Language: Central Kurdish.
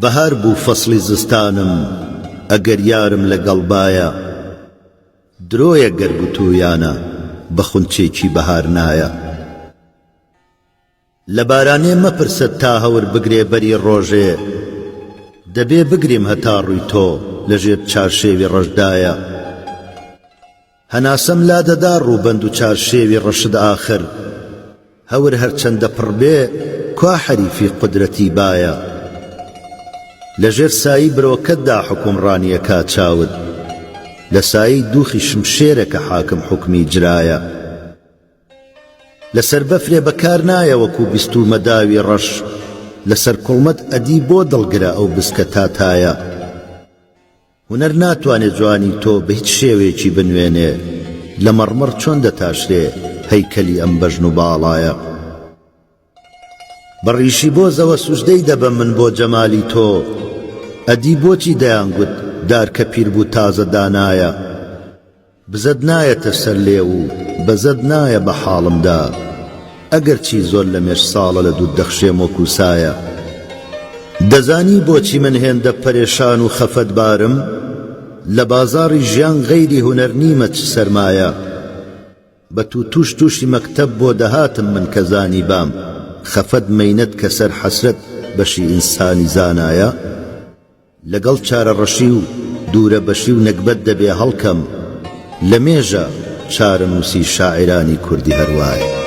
بەهار بوو فەسڵی زستانم ئەگەر یارم لەگەڵبایە درۆیە گەر گوتوویانە بە خونچێکی بەهار نایە لە بارانێ مەپرسە تا هەور بگرێ بەری ڕۆژێ دەبێ بگریم هەتا ڕووی تۆ لەژێر چارشێوی ڕەشدایە هەناسەم لا دەدا ڕووبەند و چارشێوی ڕەشت ئاخر هەور هەرچەندە پڕ بێ کوا حەریفی قودرەتی بایە لە ژێر سایی برۆکەتدا حوکمڕانیە کا چاوت لە سایەی دووخی شمشێرە کە حاکم حوکمی جرایە لەسەر بەفرێ بە کار نایە وەکوو بیستوومە داوی ڕەش لەسەر کوڵمەت ئەدی بۆ دڵگرە ئەو بسکە تاتایە. هونەر ناتوانێ جوانی تۆ بە هیچ شێوەیەکی بنوێنێ، لە مەڕمەڕ چۆن دەتاشرێ هەیکەلی ئەم بەژن و باڵایە؟ بە ڕیشی بۆزەوە سوجدەی دەبەم من بۆ جەمالی تۆ، ئەدی بۆچی دەیانگوت دارکە پیربوو تازە دانایە؟ بزەت نایەتە سەر لێو و بەزەت نایە بە حاڵمدا ئەگەرچی زۆر لەمێژ ساڵە لە دوت دەخشێم وەکو سایە دەزانی بۆچی من هێندە پەرێشان و خەفەتبارم لە بازاڕی ژیان غەیری هونەر نیمە چ سەرمایە بە تو توش توشی مەکتەب بۆ دەهاتم من کە زانیبام خەفەت مەینەت کەسەر حەسرەت بەشی ئینسانی زانایە لەگەڵ چارەڕەشی و دوورەبەشی و نەگبەت دەبێ هەڵکەم، لە مێژە چارەنووسی شاعیرانی کوردی هەر وایە.